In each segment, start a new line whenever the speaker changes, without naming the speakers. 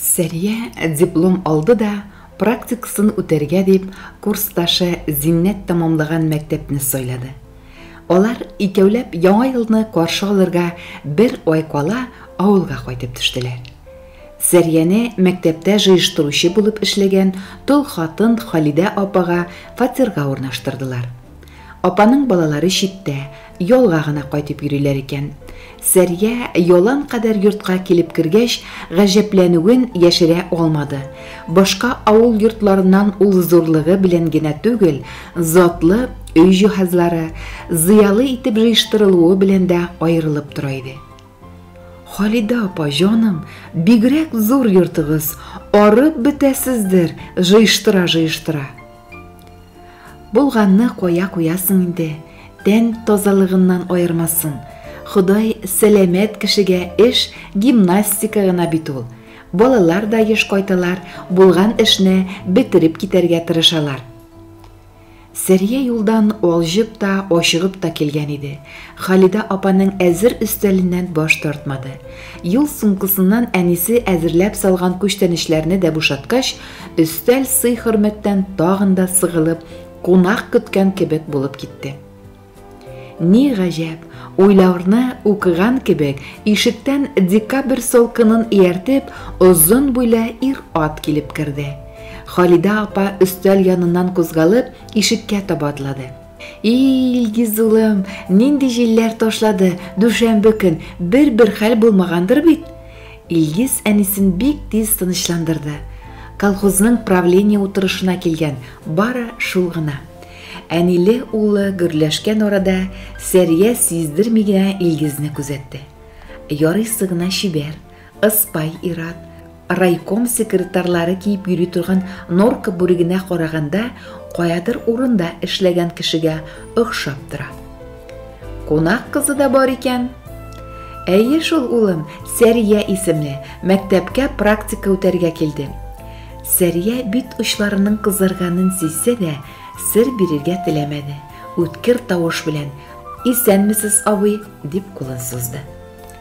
Сәрия диплом алды да, практикасын үтәргә дип, курсташы Зиннәт тәмамлаган мәктәпне сайлады. Алар икәүләп Яңа елны каршы алырга бер ай кала авылга кайтып төштеләр. Сәрияне мәктәптә җыештыручы булып эшләгән тол хатын Халидә апага фатирга урнаштырдылар. Апаның балалары читтә, ялга гына кайтып йөриләр икән. Сәрия ялан кадәр йортка килеп кергәч, гаҗәпләнүен яшерә алмады. Башка авыл йортларыннан ул зурлыгы белән генә түгел, затлы өй җиһазлары, зыялы итеп җыештырылуы белән дә аерылып тора иде. Халидә апа, җаным, бигрәк зур йортыгыз, арып бетәсездер, җыештыра-җыештыра. Булганны куя куясың инде, тән тазалыгыннан аермасын. Ходай сәламәт кешегә эш гимнастика гына бит ул. Балалар да еш кайталар, булган эшне бетереп китәргә тырышалар. Сәрия юлдан алҗып та, ашыгып та килгән иде. Халидә апаның әзер өстәленнән баш тартмады. Юл сумкасыннан әнисе әзерләп салган күчтәнечләрне дә бушаткач, Өстәл сый-хөрмәттән тагын да сыгылып, кунак көткән кебек булып китте. Ни гаҗәп, уйларны укыган кебек, ишектән декабрь солкынын ияртеп, озын буйлы ир-ат килеп керде. Халидә апа өстәл яныннан кузгалып, ишеккә таба атлады. И, Илгиз улым, нинди җилләр ташлады, дүшәмбе көн бер-бер хәл булмагандыр бит? Илгиз әнисен бик тиз тынычландырды. Колхозның правление утырышына килгән, бары шул гына. Әниле улы гөрләшкән арада Сәрия сиздерми генә Илгизне күзәтте. Ярыйсы гына чибәр, Ыспай ир-ат, райком секретарьлары киеп йөри торган норка бүрегенә караганда, каядыр урында эшләгән кешегә охшап тора. Кунак кызы да бар икән. Әйе шул, улым, Сәрия исемле, мәктәпкә практика үтәргә килде. Сәрия бит очларының кызарганын сизсә дә, сер бирергә теләмәде. Үткер тавыш белән: "Исәнмесез, абый", дип кулын сузды.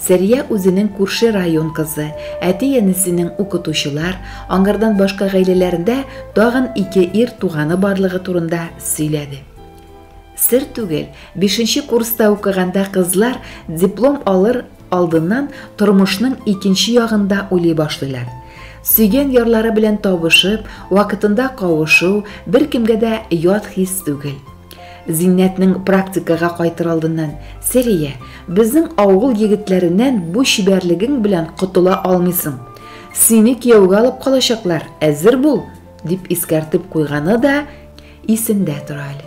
Сәрия үзенең күрше район кызы, әти-әнисенең укытучылар, аңардан башка гаиләләрендә тагын ике ир туганы барлыгы турында сөйләде. Сер түгел, бишенче курста укыганда кызлар диплом алыр алдыннан тормышның икенче ягында уйлый башлыйлар. Сөйгән ярлары белән табышып, вакытында кавышу беркемгә дә ят хис түгел. Зиннәтнең практикага кайтыр алдыннан, Сәрия, безнең авыл егетләреннән бу чибәрлегең белән котыла алмыйсың. Сине кияүгә алып калачаклар, әзер бул, дип искәртеп куйганы да исемдә тора әле.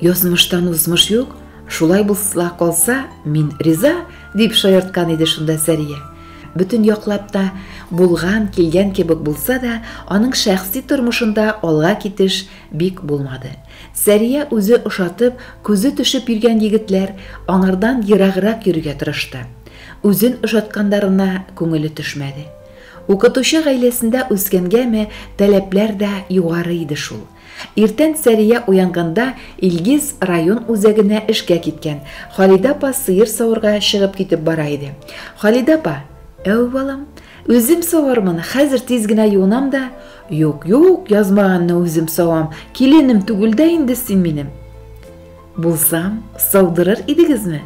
Язмыштан узмыш юк, шулай булса калса, мин риза, дип шаярткан иде шунда Сәрия. Бөтен яклап та булган, килгән кебек булса да, аның шәхси тормышында алга китеш Бик булмады. Сәрия үзе ошатып, күзе төшеп йөргән егетләр, аңардан ераграк йөрергә тырышты. Үзен ошаткандарына күңеле төшмәде. Укытучы гаиләсендә үскәнгәме, таләпләр дә югары иде шул. Иртән Сәрия уянганда, Илгиз район үзәгенә эшкә киткән, Халидә апа сыер саварга чыгып китеп бара иде. Халидә апа, Әү, балам, үзем савармын, хәзер тиз генә юынам да, Юк, юк, язмаганны үзем савам. Киленем түгел дә инде син минем. Булсам, саудырыр идегезме?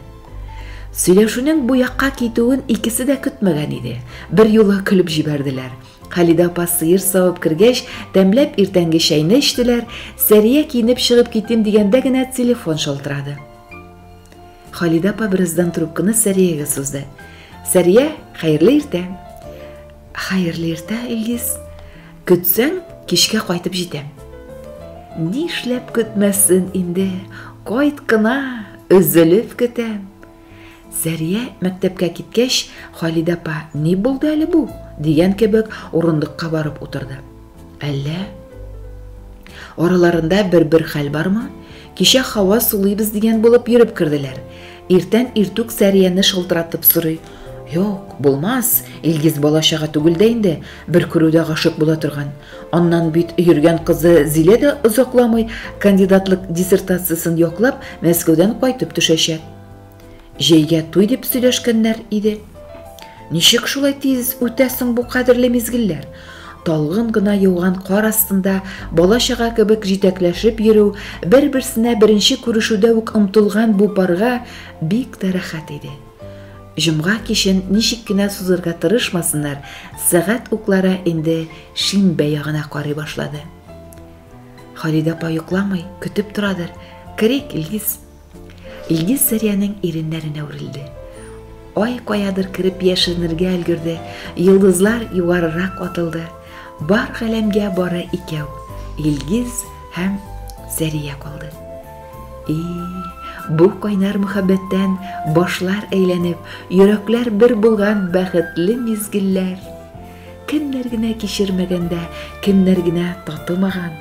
Сөйләшүнең бу якка китүен икесе дә көтмәгән иде. Бер юлы көлеп җибәрделәр. Халидә апа сыер савып кергәч, тәмләп иртәнге чәйне эчтеләр. Сәрия киенеп чыгып китим дигәндә генә телефон шалтырады. Халидә апа бераздан трубканы Сәриягә сузды. Сәрия, хәерле иртә. Хәерле иртә, Илгиз. Көтсәң, кичкә кайтып җитәм. Нишләп көтмәсен инде? Кайт кына, өзелеп көтәм. Сәрия мәктәпкә киткәч, Халидә апа, ни булды әле бу? дигән кебек, урындыкка барып утырды. Әллә? Араларында бер-бер хәл бармы? Кичә хава сулыйбыз дигән булып йөреп керделәр. Иртән иртүк Сәрияне шылтыратып сорый. Юк, булмас. Илгиз балачага түгел дә инде, бер күрүдә гашык була торган. Аннан бит йөргән кызы Зилә дә озакламый кандидатлык диссертациясен яклап Мәскәүдән кайтып төшәчәк. Җәйгә туй дип сөйләшкәннәр иде. Ничек шулай тиз үтә соң бу кадерле мизгелләр? Талгын гына яуган кар астында бала-чага кебек җитәкләшеп йөрү, бер-берсенә беренче күрешүдә үк омтылган бу парга бик тә рәхәт иде. Җомга кичен ничек кенә сузырга тырышмасыннар, сәгать уклары инде шимбә ягына карый башлады. Халидә апа йокламый, көтеп торадыр. Керик, Лиз. Илгиз Сәриянең иреннәренә үрелде. Ай каядыр кереп яшеренергә өлгерде, йолдызлар югарырак атылды. Бар галәмгә бары икәү, Илгиз һәм Сәрия калды. И, бу кайнар мөхәббәттән башлар әйләнеп, йөрәкләр бер булган бәхетле мизгелләр. Кемнәр генә кичермәгән дә, кемнәр генә татымаган.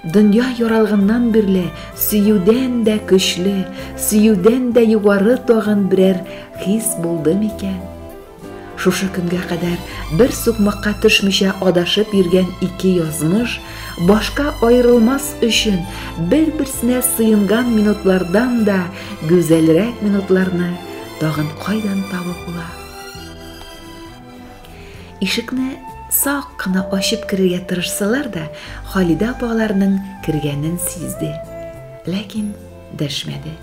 Дөнья яралганнан бирле сөюдән дә көчле, сөюдән дә югары тагын берәр хис булды микән? Шушы көнгә кадәр бер сукмакка төшмичә адашып йөргән ике язмыш башка аерылмас өчен бер-берсенә сыенган минутлардан да гүзәлрәк минутларны тагын кайдан табып була? Ишекне сак кына ачып керергә тырышсалар да, Халидә апа аларның кергәнен сизде. Ләкин дәшмәде.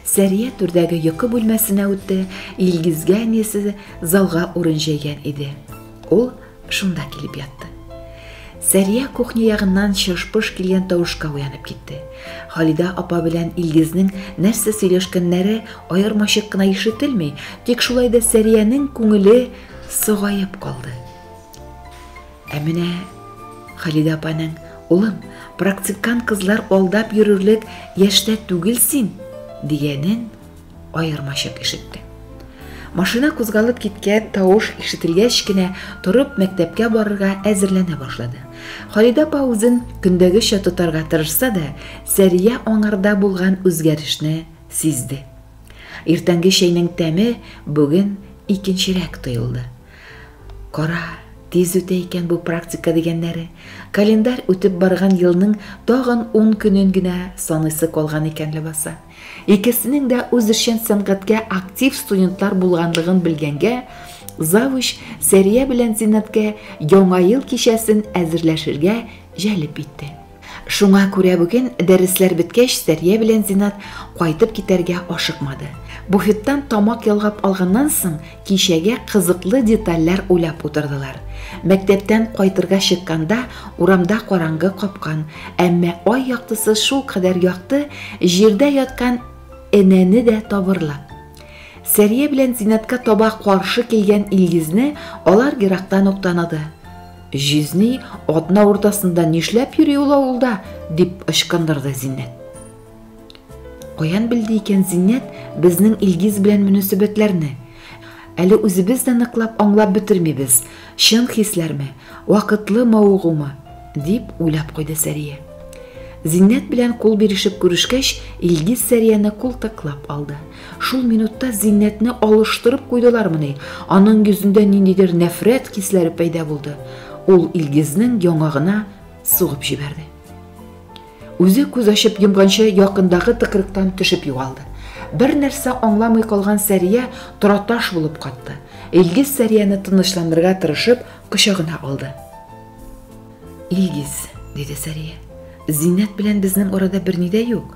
Сәрия түрдәге йокы бүлмәсенә үтте, Илгизгә әнисе залга урын җәйгән иде. Ул шунда килеп ятты. Сәрия кухня ягыннан чыш-пыш килгән тавышка уянып китте. Халидә апа белән Илгизнең нәрсә сөйләшкәннәре аермачык кына ишетелми, тик шулай да Сәриянең күңеле Согаеп калды. Ә менә Халидә апаның, улым, практикант кызлар алдап йөрерлек яшьтә түгел син, дигәнен аермачык ишетте. Машина кузгалып киткән тавыш ишетелгәч кенә торып мәктәпкә барырга әзерләнә башлады. Халидә апа үзен көндәгечә тотарга тырышса да, Сәрия аңарда булган үзгәрешне сизде. Иртәнге чәйнең тәме бүген икенчерәк тоелды. Кара, тиз үтә икән бу практика дигәннәре. Календарь үтеп барган елның тагын 10 көнен генә саныйсы калган икән ләбаса. Икесенең дә үзешчән сәнгатькә актив студентлар булганлыгын белгәнгә, завуч Сәрия белән Зиннәткә яңа ел кичәсен әзерләшергә җәлеп итте. Шуңа күрә бүген, дәресләр беткәч, Сәрия белән Зинат кайтып китәргә ашыкмады. Буфеттан тамак ялгап алганнан соң, кичәгә кызыклы детальләр уйлап утырдылар. Мәктәптән кайтырга чыкканда, урамда караңгы капкан, әмма ай яктысы шулкадәр якты, җирдә яткан энәне дә табырлык. Сәрия белән Зинатка таба каршы килгән Илгизне алар ерактан ук таныды. Җизни, атна уртасында нишләп йөри ул авылда? дип ычкындырды Зиннәт. Каян белде икән Зиннәт безнең Илгиз белән мөнәсәбәтләрне? Әле үзебез дә ныклап аңлап бетермибез, чын хисләрме, вакытлы мавыгумы, дип уйлап куйды Сәрия. Зиннәт белән кул бирешеп күрешкәч, Илгиз Сәрияне култыклап алды. Шул минутта Зиннәтне алыштырып куйдылармыни? Аның йөзендә ниндидер нәфрәт хисләре пәйда булды. Ул Илгизнең яңагына сугып җибәрде. Үзе күз ачып йомганчы якындагы тыкрыктан төшеп югалды. Бер нәрсә аңламый калган Сәрия тораташ булып катты. Илгиз Сәрияне тынычландырырга тырышып, кочагына алды. Илгиз, диде Сәрия. Зиннәт белән безнең арада берни дә юк.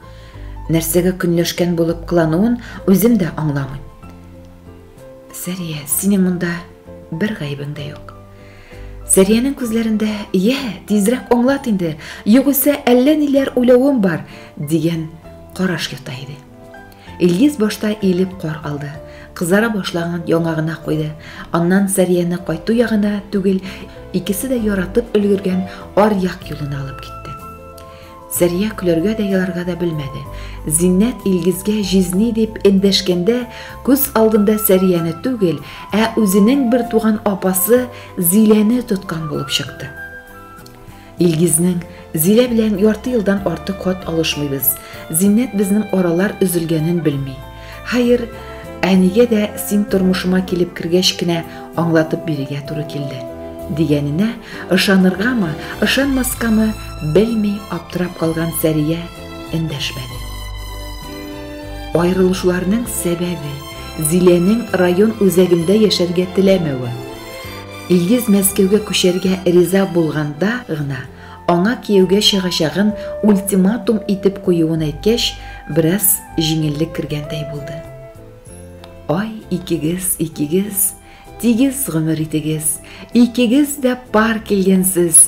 Нәрсәгә көнләшкән булып кылануын үзем дә аңламыйм. Сәрия, синең монда бер гаебең дә юк. Сәриянең күзләрендә, "Я, тизрәк аңлат инде, югыйсә әллә ниләр уйлавым бар" дигән караш ята иде. Илгиз башта иелеп кар алды. Кызара башлаган яңагына куйды. Аннан Сәрияне кайту ягына түгел, икесе дә яратып өлгергән аръяк юлына алып китте. Сәрия көләргә дә еларга да белмәде. Зиннәт Илгизгә җизни дип эндәшкәндә, күз алдында Сәрияне түгел, ә үзенең бер туган апасы Зиләне тоткан булып чыкты. Илгизнең, Зилә белән ярты елдан артык хат алышмыйбыз. Зиннәт безнең аралар өзелгәнен белми. Хәер, әнигә дә син тормышыма килеп кергәч кенә аңлатып бирергә туры килде. Дигәненә ышаныргамы, ышанмаскамы белми аптырап калган Сәрия эндәшмәде. Аерылышуларның сәбәбе Зиләнең район үзәгендә яшәргә теләмәве. Илгиз Мәскәүгә күчәргә риза булганда гына, аңа кияүгә чыгачагын ультиматум итеп куюын әйткәч, бераз җиңеллек кергәндәй булды. Ай, икегез, икегез, тигез гомер итегез, икегез дә пар килгәнсез!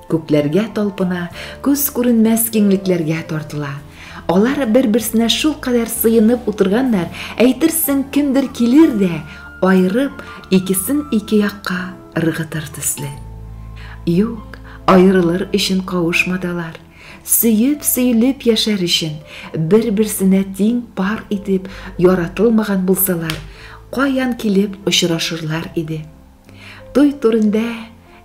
Күкләргә талпына, күз күренмәс киңлекләргә тартыла. Алар бер-берсенә шул кадәр сыенып утырганнар, әйтерсең кемдер килер дә, айырып, икесен ике якка ыргытыр төсле. Юк, аерылыр өчен кавышмадылар. Сөеп-сөелеп яшәр өчен, бер-берсенә тиң пар итеп яратылмаган булсалар, каян килеп очрашырлар иде? Туй турында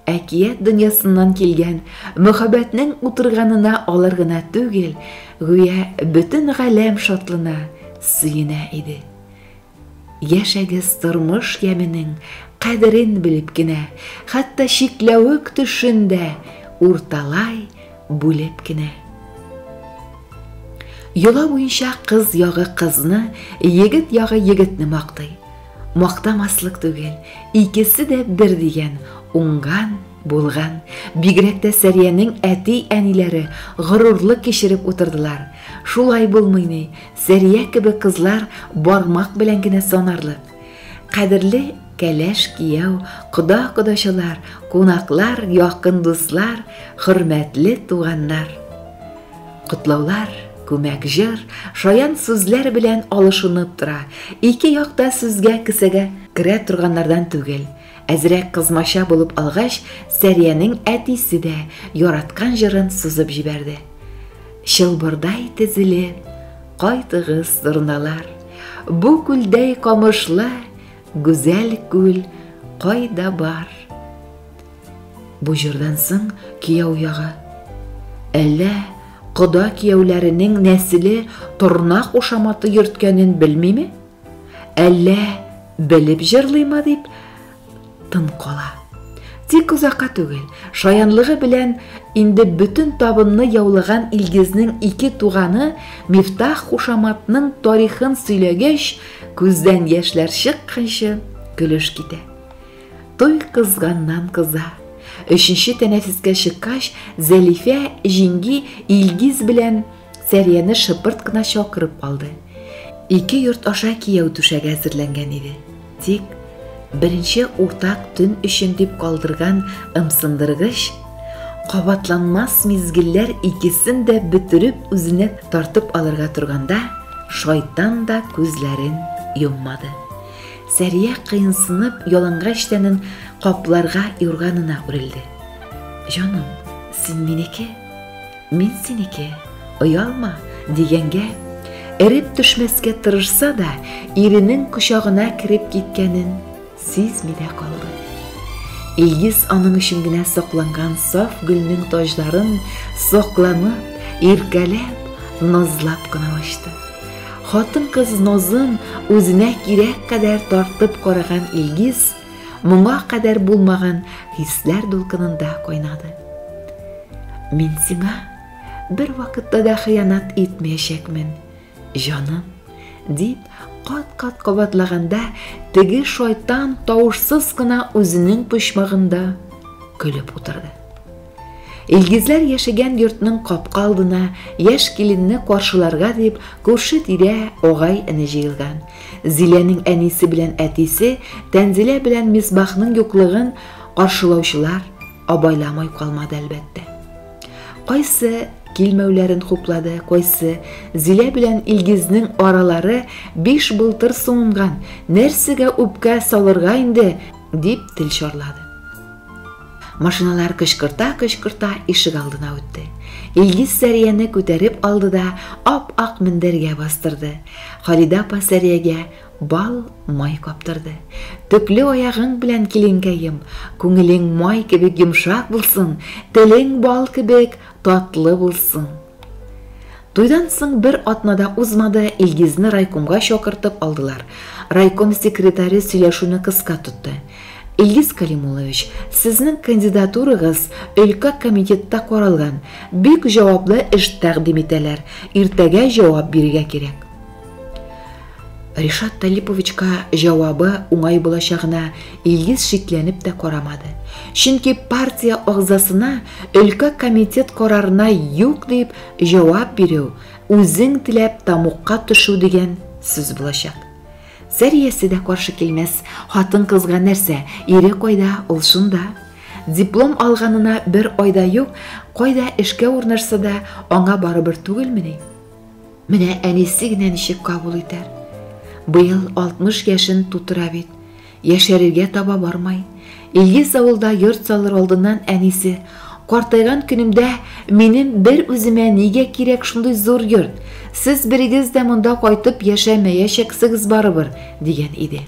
әкият дөньясыннан килгән мөхәббәтнең утырганына алар гына түгел, гүя бөтен галәм шатлана, сөенә иде. Яшәгез тормыш яменең кадерен белеп кенә, хәтта чикләвек төшен дә урталай бүлеп кенә. Йола буенча кыз ягы кызны, егет ягы егетне мактый. Мактамаслык түгел, икесе дә бер дигән, уңган, булган. Бигрәк тә Сәриянең әти-әниләре горурлы кичереп утырдылар. Шулай булмый ни, Сәрия кебек кызлар бармак белән генә санарлык. Кадерле кәләш кияү, кода-кодачылар, кунаклар, якын дуслар, хөрмәтле туганнар. Котлаулар, күмәк җыр, шаян сүзләр белән алышынып тора. Ике якта сүзгә кесәгә керә торганнардан түгел. Әзрәк кызмача булып алгач, Сәриянең әтисе дә яраткан җырын сузып җибәрде. Чылбырдай тезелеп, кайтыгыз, зурналар. Бу күлдәй камышлы Гүзәл күл кайда бар? Бу җырдан соң кияү ягы. Әллә кода кияүләренең нәселе торна кушаматы йөрткәнен белмиме? Әллә белеп җырлыймы дип тын кала. Тик озакка түгел, шаянлыгы белән инде бөтен табынны яулаган Илгизнең ике туганы Мифтах кушаматның тарихын сөйләгәч, Күздән яшьләр чыкканчы көлеш китә. Туй кызганнан кыза. Өченче тәнәфескә чыккач, Зәлифә җиңги Илгиз белән Сәрияне шыпырт кына чакырып алды. Ике йорт аша кияү түшәге әзерләнгән иде. Тик беренче уртак төн өчен дип калдырган ымсындыргыч Кабатланмас мизгелләр икесен дә бөтереп үзенә тартып алырга торганда, шайтан да күзләрен йоммады. Сәрия кыенсынып ялангач тәнен капларга юрганына үрелде. Җаным, син минеке, мин синеке, оялма, дигәнгә, эреп төшмәскә тырышса да, иренең кочагына кереп киткәнен Сизми дә калды. Илгиз аның өчен генә сакланган саф гөлнең таҗларын сокланып, иркәләп, назлап кына ачты. Хатын-кыз нозын үзенә кирәк кадәр тартып караган Илгиз моңа кадәр булмаган хисләр дулкынында кайнады. Мин сиңа бер вакытта да хыянат итмәячәкмен. Җаным, дип кат-кат кабатлаганда, теге шайтан тавышсыз гына үзенең почмагында көлеп утырды. Илгизләр яшәгән йортның капка алдына яшь киленне каршыларга дип күрше тирә огай эне җыелган. Зиләнең әнисе белән әтисе Тәнзилә белән Мисбахның юклыгын каршылаучылар абайламай калмады әлбәттә. Кайсы килмәүләрен хуплады, кайсы Зилә белән Илгизнең аралары биш былтыр суынган, нәрсәгә үпкә салырга инде, дип тел чарлады. Машиналар кычкырта-кычкырта ишек алдына үтте. Илгиз Сәрияне күтәреп алды да ап-ак мендәргә бастырды. Халидә апа Сәриягә Бал май каптырды. Төпле аягың белән киленкәем, күңелең май кебек йомшак булсын, телең бал кебек татлы булсын. Туйдан соң бер атнада узмады, Илгизне райкомга чакыртып алдылар. Райком секретаре сөйләшүне кыска тотты. Илгиз Калимулович, сезнең кандидатурагыз өлкә комитетта каралган. Бик җаваплы эш тәкъдим итәләр. Иртәгә җавап бирергә кирәк. Ришат Талиповичка җавабы уңай булачагына Илгиз шикләнеп тә карамады. Чөнки партия агзасына өлкә комитет карарына юк дип җавап бирү, үзең теләп тамукка төшү дигән сүз булачак. Сәриясе дә каршы килмәс, хатын-кызга нәрсә, ире кайда, ул шунда. Диплом алганына бер айда юк, кайда эшкә урнашса да, аңа барыбер түгелмени? Менә әнисе генә ничек кабул итәр? Быел 60 яшен тутыра бит. Яшәрергә таба бармай. Илгиз авылда йорт салыр алдыннан әнисе, Картайган көнемдә минем бер үземә нигә кирәк шундый зур йорт? Сез берегез дә монда кайтып яшәмәячәксегез барыбер, дигән иде.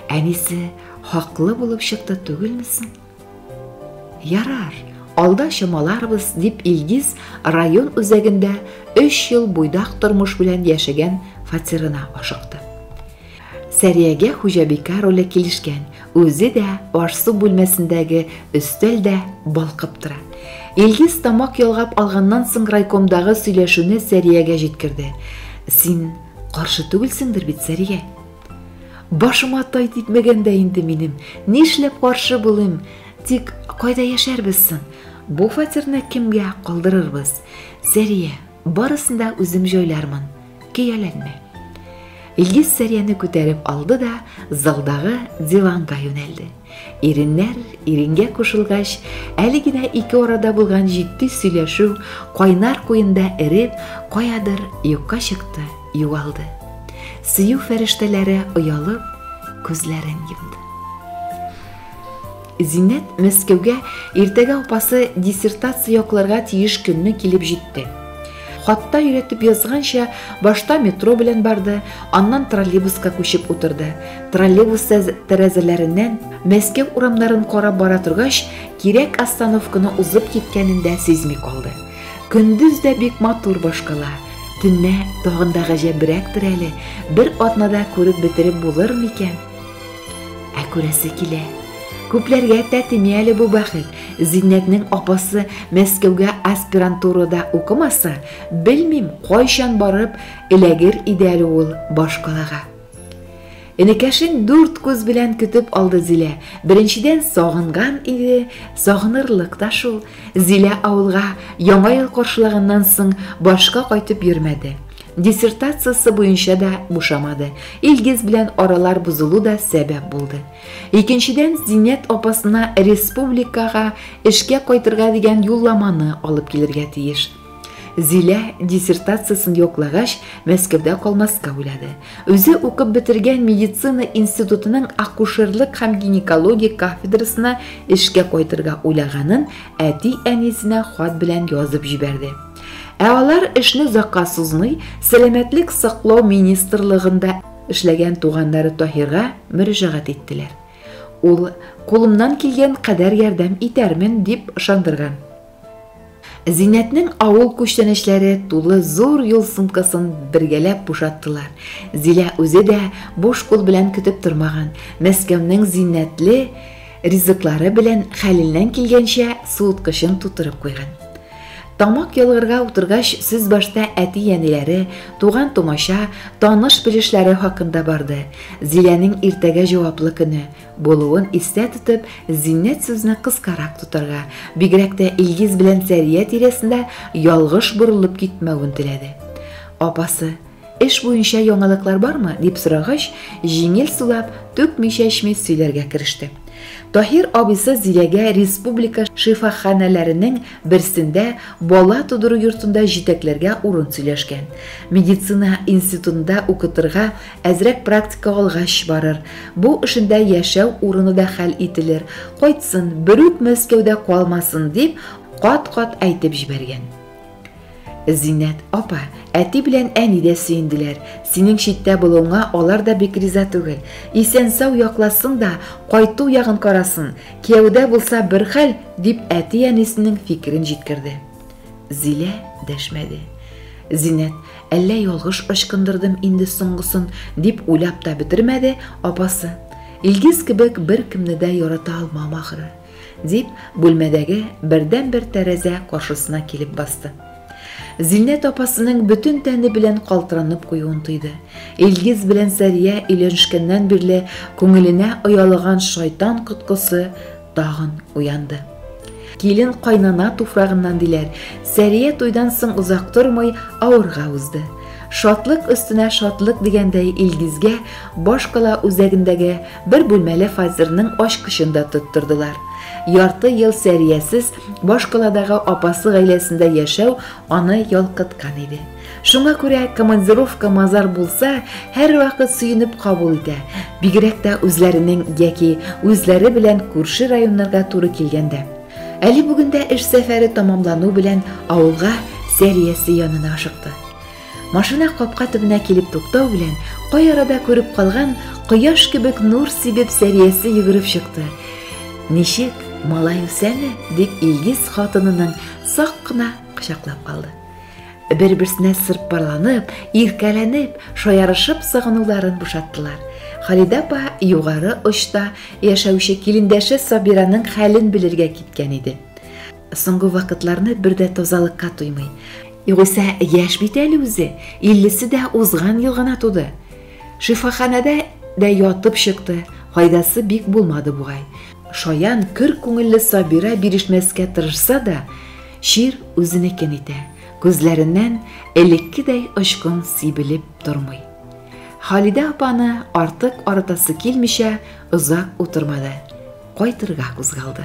Әнисе хаклы булып чыкты түгелме соң? Ярар, алда чамаларбыз, дип Илгиз район үзәгендә 3 ел буйдак тормыш белән яшәгән фатирына ашыкты. Сәриягә хуҗабикә роле килешкән, үзе дә аш-су бүлмәсендәге өстәл дә балкып тора. Илгиз тамак ялгап алганнан соң райкомдагы сөйләшүне Сәриягә җиткерде. Син каршы түгелсеңдер бит, Сәрия? Башыма тай типмәгән дә инде минем. Нишләп каршы булыйм? Тик кайда яшәрбез соң? Бу фатирны кемгә калдырырбыз? Сәрия, барысын да үзем җайлармын. Кияләнмә. Илгиз Сәрияне күтәреп алды да залдагы диванга юнәлде. Иреннәр иренгә кушылгач, әле генә ике арада булган җитди сөйләшү кайнар куенда эреп, каядыр юкка чыкты, югалды. Сөю фәрештәләре оялып, күзләрен йомды. Зиннәт Мәскәүгә иртәгә апасы диссертация якларга тиеш көнне килеп җитте. Хатта өйрәтеп язганча, башта метро белән барды, аннан троллейбуска күчеп утырды. Троллейбус тәрәзәләреннән Мәскәү урамнарын карап бара торгач, кирәк остановканы узып киткәнен дә сизми калды. Көндез дә бик матур башкала. Төнлә тагын да гаҗәбрәктер әле, бер атнада күреп бетереп булыр микән? Ә күрәсе килә. Күпләргә тәтеми әле бу бәхет. Зиннәтнең апасы Мәскәүгә аспирантурада укымаса, белмим, кайчан барып эләгер иде әле ул башкалага. Энекәшен дүрт күз белән көтеп алды Зилә. Беренчедән сагынган иде, сагынырлык та шул. Зилә авылга яңа ел каршылаганнан соң башка кайтып йөрмәде. Диссертациясе буенча да бушамады. Илгиз белән аралар бозылу да сәбәп булды. Икенчедән, Зиннәт апасына республикага эшкә кайтырга дигән юлламаны алып килергә тиеш. Зилә диссертациясен яклагач, Мәскәүдә калмаска уйлады. Үзе укып бетергән медицина институтының акушерлык һәм гинекология кафедрасына эшкә кайтырга уйлаганын әти-әнисенә хат белән язып җибәрде. Ә алар эшне озакка сузмый, сәламәтлек саклау министрлыгында эшләгән туганнары Таһирга мөрәҗәгать иттеләр. Ул кулымнан килгән кадәр ярдәм итәрмен дип ышандырган. Зиннәтнең авыл күчтәнәчләре тулы зур юл сумкасын бергәләп бушаттылар. Зилә үзе дә буш кул белән көтеп тормаган. Мәскәүнең зиннәтле Ризыклары белән хәленнән килгәнчә суыткычын тутырып куйган. Тамак ялгырга утыргач, сүз башта әти-әниләре, туган-тумача, таныш-белешләре хакында барды. Зиләнең иртәгә җаваплы көне булуын истә тотып, Зиннәт сүзне кыскарак тотарга, бигрәк тә Илгиз белән Сәрия тирәсендә ялгыш борылып китмәвен теләде. Апасы, Эш буенча яңалыклар бармы? дип сорагач, җиңел сулап, түкми-чәчми сөйләргә кереште. Таһир абыйсы Зиләгә республика шифаханәләренең берсендә бала тудыру йортында җитәкләргә урын сөйләшкән. Медицина институтында укытырга, әзрәк практика алгач барыр. Бу эшендә яшәү урыны да хәл ителер. Кайтсын, берүк Мәскәүдә калмасын, дип кат-кат әйтеп җибәргән. Зиннәт апа, әти белән әни дә сөенделәр. Синең читтә булуыңа алар да бик риза түгел. Исән сау якласын да, кайту ягын карасын. Кияүдә булса бер хәл, дип әти әнисенең фикерен җиткерде. Зилә дәшмәде. Зиннәт, әллә ялгыш ычкындырдым инде соңгысын, дип уйлап та бетермәде, апасы. Илгиз кебек бер кемне дә ярата алмам ахры. Дип, бүлмәдәге бердән-бер тәрәзә каршысына килеп басты. Зиннәт апасының бөтен тәне белән калтыранып куюын тойды. Илгиз белән Сәрия өйләнешкәннән бирле күңеленә оялаган шайтан коткысы тагын уянды. Килен кайнана туфрагыннан диләр. Сәрия туйдан соң озак тормый авырга узды. Шатлык өстенә шатлык дигәндәй Илгизгә башкала үзәгендәге Бер бүлмәле фатирның ачкычын да тоттырдылар. Ярты ел Сәриясез башкаладагы апасы гаиләсендә яшәү аны ялкыткан иде. Шуңа күрә командировка мазар булса, һәрвакыт сөенеп кабул итә, бигрәк тә үзләренең яки үзләре белән күрше районнарга туры килгәндә. Әле бүген дә эш сәфәре тамамлану белән авылга Сәриясе янына ашыкты. Машина капка төбенә килеп туктау белән, кай арада күреп калган кояш кебек нур сибеп Сәриясе йөгереп чыкты. Ничек, малай үсәме? дип Илгиз хатынының сак кына кочаклап алды. Бер-берсенә сырпарланып, иркәләнеп, шаярышып сагынуларын бушаттылар. Халидә апа югары очта яшәүче килендәше Сабираның хәлен белергә киткән иде. Соңгы вакытларны бер дә тазалыкка туймый. Югыйсә, яшь бит әле үзе, иллесе дә узган ел гына туды. Шифаханәдә дә ятып чыкты, файдасы бик булмады бугай. Шаян көр күңелле Сабира бирешмәскә тырышса да, чир үзенекен итә. Күзләреннән элеккедәй очкын сибелеп тормый. Халидә апаны артык арытасы килмичә, озак утырмады. Кайтырга кузгалды.